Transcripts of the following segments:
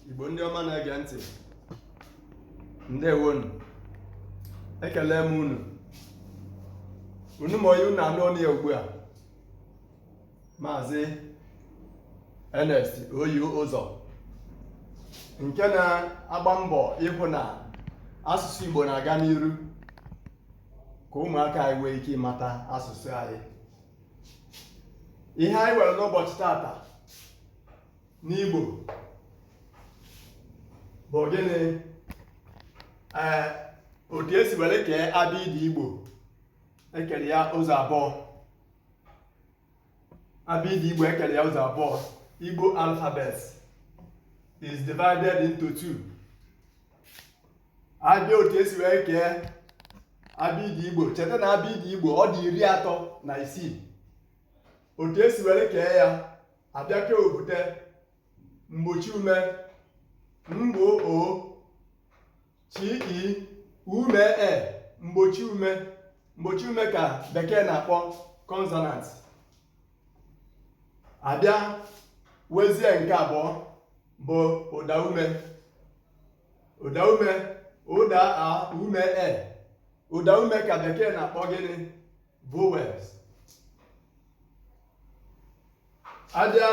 Igbo ndị ọma na-ege ntị ndewonu ekelee m unu unu ma onye unu na-anụ olu ya ugbu a maazị Ernest Oyi Ụzọ nke na-agba mbọ ịhụ na asụsụ Igbo na-aga n'iru ka ụmụaka anyị nwee ike ịmata asụsụ anyị ihe anyị nwere n'ụbọchị tata n'Igbo bụ gịnị ee otu e si were kee abịịdị Igbo e kere ya ụzọ abụọ abịịdị Igbo e kere ya ụzọ abụọ Igbo alphabet is divided into two a bịa otu e si wee kee abịịdị Igbo cheta na abịịdị Igbo ọ dị iri atọ na isii otu e si were kee ya a bịa kee o bute mgbochi ume mgbo o chi i ume e mgbochi ume mgbochi ume ka bekee na-akpọ consonant a bịa wezie nke abụọ bụ ụda ume ụda ume ụda a ume e ụda ume ka bekee na-akpọ gịnị vowels a bịa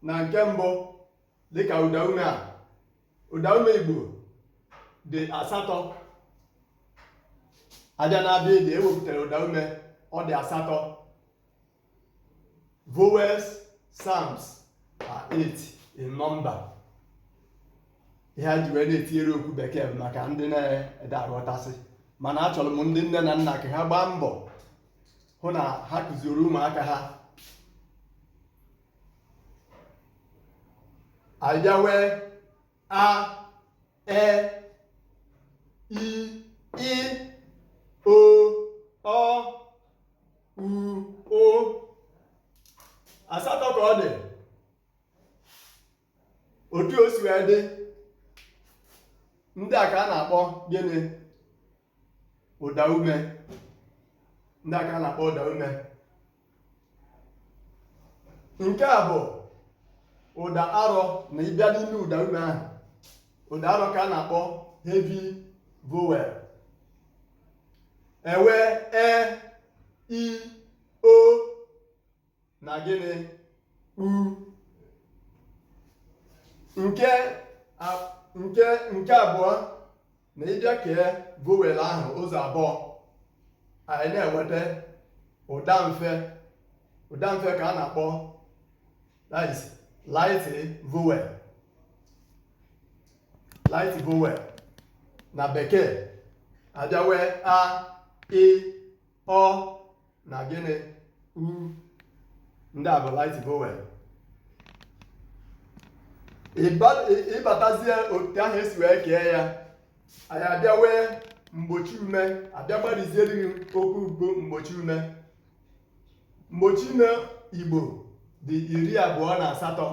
na nke mbụ dịka ụdaume a ụdaume Igbo dị asatọ a bịa na abịịdị e wepụtara ụdaume ọ dị asatọ vowels sounds are eight in number ihe a ji wee na-etinyere okwu bekee bụ maka ndị na-ada aghọtasị mana achọrọ m ndị nne na nna ka ha gbaa mbọ hụ na ha kụziere ụmụaka ha a bịa wee a e i ị o ọ u ụ asatọ ka ọ dị otu o si wee dị ndị a ka a na-akpọ gịnị ụda ume ndị a ka a na-akpọ ụda ume nke a bụ ụda arọ na ị bịa n'ime ụda ume ahụ ụda arọ ka a na-akpọ heavy vowel e wee e i o na gịnị ụ nke nke nke abụọ ma ị bịa kee vowel ahụ ụzọ abụọ anyị na-enweta ụda mfe ụda mfe ka a na-akpọ that is light vowel light vowel na bekee a bịa nwee a ị ọ na gịnị ụ ndị a bụ light vowel Ịba- ị- ị batazie otu ahụ e si wee kee ya anyị abịa nwee mgbochi ume a bịa gbariziere gị okwu bụ mgbochi ume mgbochi ume igbo dị iri abụọ na asatọ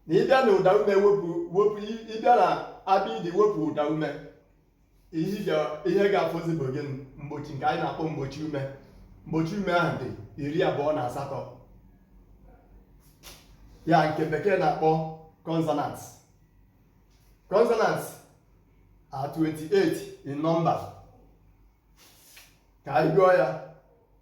na ị bịa na ụda ume wepụ wepụ ị bịa na abịdị wepụ ụda ume ihe ga-afọzi bụ gịnị mgbochi nke anyị na-akpọ mgbochi ume mgbochi ume ahụ dị iri abụọ na asatọ ya nke bekee na-akpọ consonant consonant are 28 in number ka anyị gụọ ya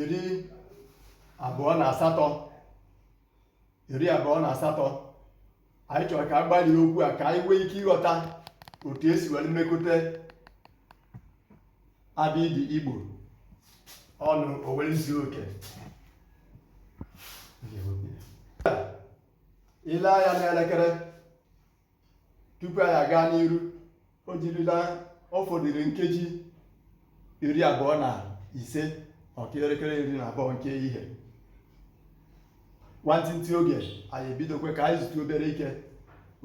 iri abụọ na asatọ iri abụọ na asatọ anyị chọrọ ka a gbarie okwu a ka anyị nwee ike ịghọta otu e si were mekọta abịdị igbo ọnụ o were zuo oke i lee anya n'elekere tupu anyị aga n'iru o jirila ọ fọdụrụ nkeji iri abụọ na ise ọ kụọ elekere iri na abụọ nke ehihie nwantịntị oge anyị ebidokwe ka anyị zutu obere ike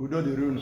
udo dịrị unu